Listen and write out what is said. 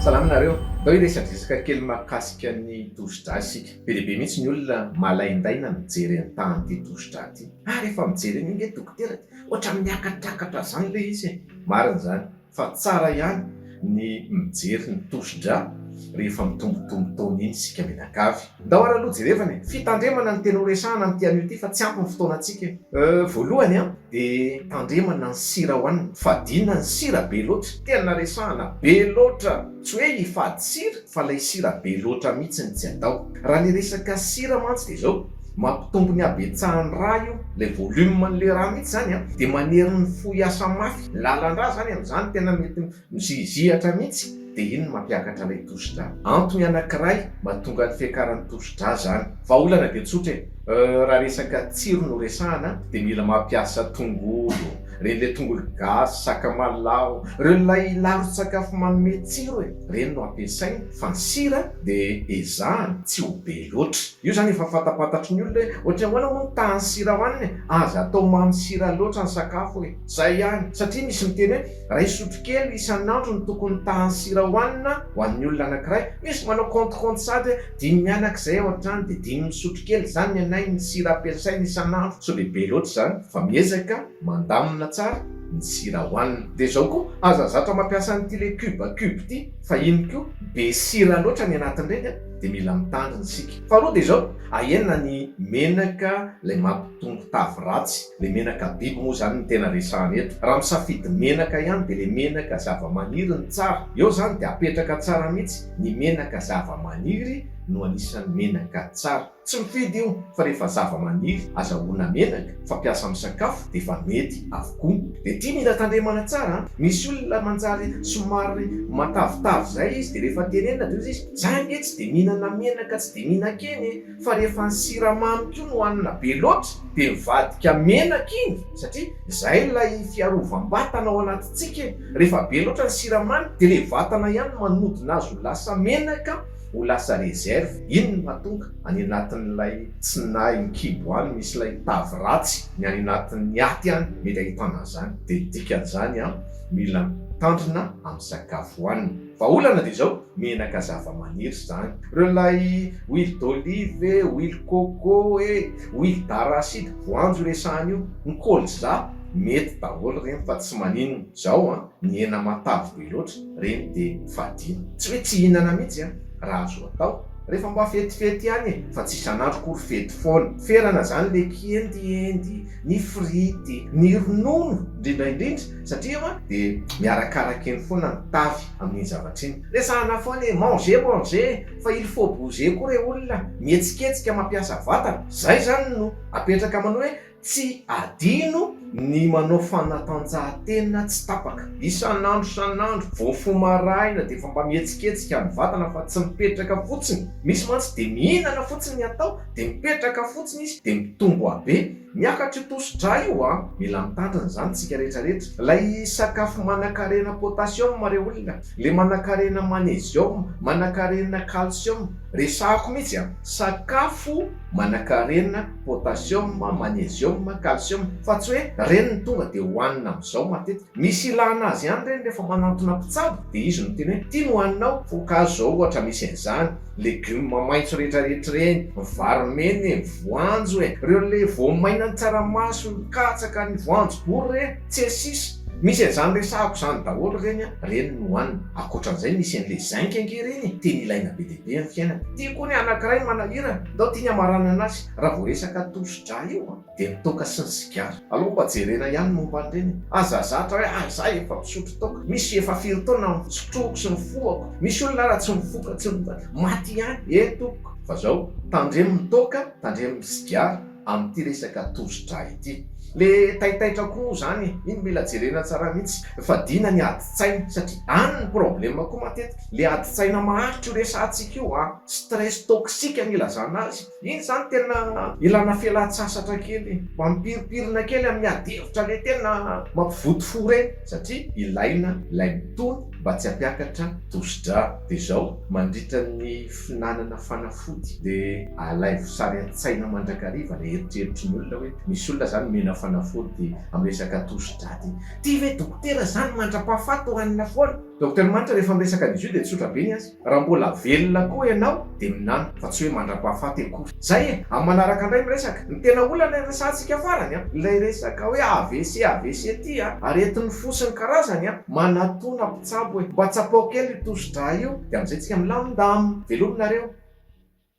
Salama nareo, ndao hiresaka resaka kely mahakasika ny tosidra isika. Be dia be mihitsy ny olona malaindaina mijery an tahan ity tosidra ity. Ah rehefa mijery an io nge dokotera dia ohatran'ny miakatrakatra zany le izy e! Marina izany, fa tsara ihany ny mijery ny tosidra rehefa mitombotombo taona iny isika mianakavy. Ndao ary aloha jerevana e! Fitandremana ny tena ho resahana amin'ity anio ity fa tsy ampy ny fotoanantsika e! Euh voalohany an! dia tandremana ny sira hohanina! Fadiana ny sira be loatra! Tena resahana be loatra! Tsy hoe hifady sira fa ilay sira be loatra mihitsy no tsy atao! Raha ny resaka sira mantsy dia izao. Mampitombo ny habetsahan'ny rà io, ilay volume-n'ilay rà mihitsy izany an, dia manery ny fo hiasa mafy. Ny lalan-drà izany amin'izany tena mety mizihizihatra mihitsy, dia iny no mampiakatra ilay tosi-drà. Antony anankiray mahatonga ny fiakaran'ny tosi-drà izany. Vahaolana dia tsotra e! Raha resaka tsiro no resahana dia mila mampiasa tongolo, ireny ilay tongolo gasy, sakamalaho, ireo ilay laron-tsakafo manome tsiro e! ireny no ampiasaina, fa ny sira dia ezahana tsy ho be loatra. Io zany efa fantapantatry ny olona hoe ohatry ny ahoana moa ny tahan'ny sira hohanina e! Aza atao mamy sira loatra ny sakafo e! Zay ihany! Satria misy miteny hoe iray sotrokely isan'andro no tokony ny tahan'ny sira hohanina ho an'ny olona anankiray, misy manao compte compte sady hoe dimy mianaka izay ao an-trano dia dimy sotrokely izany ny anay ny sira ampiasaina isan'andro, sao dia be loatra izany fa miezaka mandamina tsara ny sira hohanina. Dia izao koa, aza zatra mampiasa an'ity ilay cube cube ity fa iny koa be sira loatra ny anatin'ireny an! dia mila mitandrina isika. Faharoa dia izao, ahena ny menaka ilay mampitombo tavy ratsy, ilay menaka biby moa izany no tena resahana eto. Raha misafidy menaka ihany dia ilay menaka zavamaniry no tsara. Eo izany dia apetraka tsara mihitsy, ny menaka zavamaniry no anisan'ny menaka tsara. Tsy mifidy io fa rehefa zavamaniry azahoana menaka, fampiasa amin'ny sakafo dia efa mety avokoa. Dia ity mila tandremana tsara an! Misy olona manjary somary matavitavy izay izy dia rehefa tenenina dia hoy izy, Za nge tsy de mihinana menaka tsy de mihinan-kena e, fa rehefa ny siramamy koa no hanina be loatra de mivadika menaka iny satria zay ilay fiarovam-batana ao anatintsika e, rehefa be loatra ny siramamy de le vatana ihany no manodina azy ho lasa menaka, ho lasa reserve, iny no mahatonga any anatin'ilay tsy nahy ny kibo any misy ilay tavy ratsy ny any anatin'ny aty any mety ahitana an'izany, de dikan'izany an mila mitandrina amin'ny sakafo hohanina. Vahaolana dia izao, menaka zavamaniry izany. Ireo ilay huile d'olive e, huile coco e, huile d'arachide, voanjo resahana io, ny colza, mety daholo ireny fa tsy maninona. Izao an, ny hena matavy be loatra, ireny dia fadiana. Tsy hoe tsy hihinana mihitsy an, raha azo atao, rehefa mba fetifety ihany e, fa tsy isan'andro akory fety foana. Ferana izany ilay kiendiendy, ny frity, ny ronono indrindra indrindra. Satria eo dia miarakaraka eny foana ny tavy amin'iny zavatra iny. Resahana foana hoe manger manger fa il faut bouger koa re olona mihetsiketsika mampiasa vatana. Izay izany no apetraka manao hoe tsy adino ny manao fanatanjahantena tsy tapaka. Isan'andro isan'andro vao mifoha maraina dia efa mba mihetsiketsika ny vatana fa tsy mipetraka fotsiny. Misy mantsy dia mihinana fotsiny ny atao dia mipetraka fotsiny izy dia mitombo habe. Miakatra io tosi-drà io a! Mila mitandrina izany tsika rehetra rehetra. Ilay sakafo manankarena potassium re olona, le manankarena magnesium, manankarena calcium, resahako mihitsy a! Sakafo manankarena potassium, magnesium, calcium, fa tsy hoe reny no tonga dia hohanina amin'izao matetika. Misy ilana azy ihany reny rehefa manantona mpitsabo dia izy no miteny hoe ity no haninao, voankazo izao ohatra misy an'izany, Legioma maitso rehetrarehetra ireny, ny vary mena e, ny voanjo e, ireo le voamaina ny tsaramaso, ny katsaka, ny voanjobory re, tsesis. Misy an'izany resahako izany daholo ireny an, ireny no hohanina. Ankoatran'izay misy an'le zinc ange ireny e, tena ilaina be dia be amin'ny fiainana. Ty koa ny anakiray manahirana, ndao tiany hamaranana azy raha vao resaka tosi-dra io an. dia toaka sy ny sigara. Aleo mba jerena ihany ny momba an'ireny e! Aza zatra hoe ah izaho efa mpisotro toaka, misy efa firy taona no sotroiko sy nifohako, misy olona ary tsy mifoka tsy maty ihany e tompoko! Fa izao, tandremo ny toaka, tandremo ny sigara amin'ity resaka tosi-drà ity. Le taitaitra koa izany e! Iny mila jerena tsara mihitsy, fadiana ny adin-tsaina satria any ny problème koa matetika, le adin-tsaina maharitra io resahantsika io an! Stress toxique no ilazana azy. Iny izany tena ilana fialan-tsasatra kely, mampimpirimpirina kely amin'ny adihevitra le tena mampivoto fo ireny satria ilaina ilay mitony mba tsy hampiakatra tosidra de izao mandritra ny fihinanana fanafody de alaivo sary an-tsaina mandrakariva le eritreritry ny olona hoe misy olona izany mihina fanafody amin'ny resaka tosidra de ty ve dokotera izany mandra-pahafaty hohanina foana? Docteur Manitra rehefa miresaka an'izy io dia tsotra be ny azy. Raha mbola velona koa ianao dia minana fa tsy hoe mandra-pahafaty akory. Zay e! Amin'ny manaraka indray miresaka. Ny tena olana iresahantsika farany an! Ilay resaka hoe avc avc ty an! Aretin'ny fo sy ny karazany an! Manatona mpitsabo e! Mba tsapao kely io tosi-drà io dia amin'izay tsika milamindamina. Veloma nareo.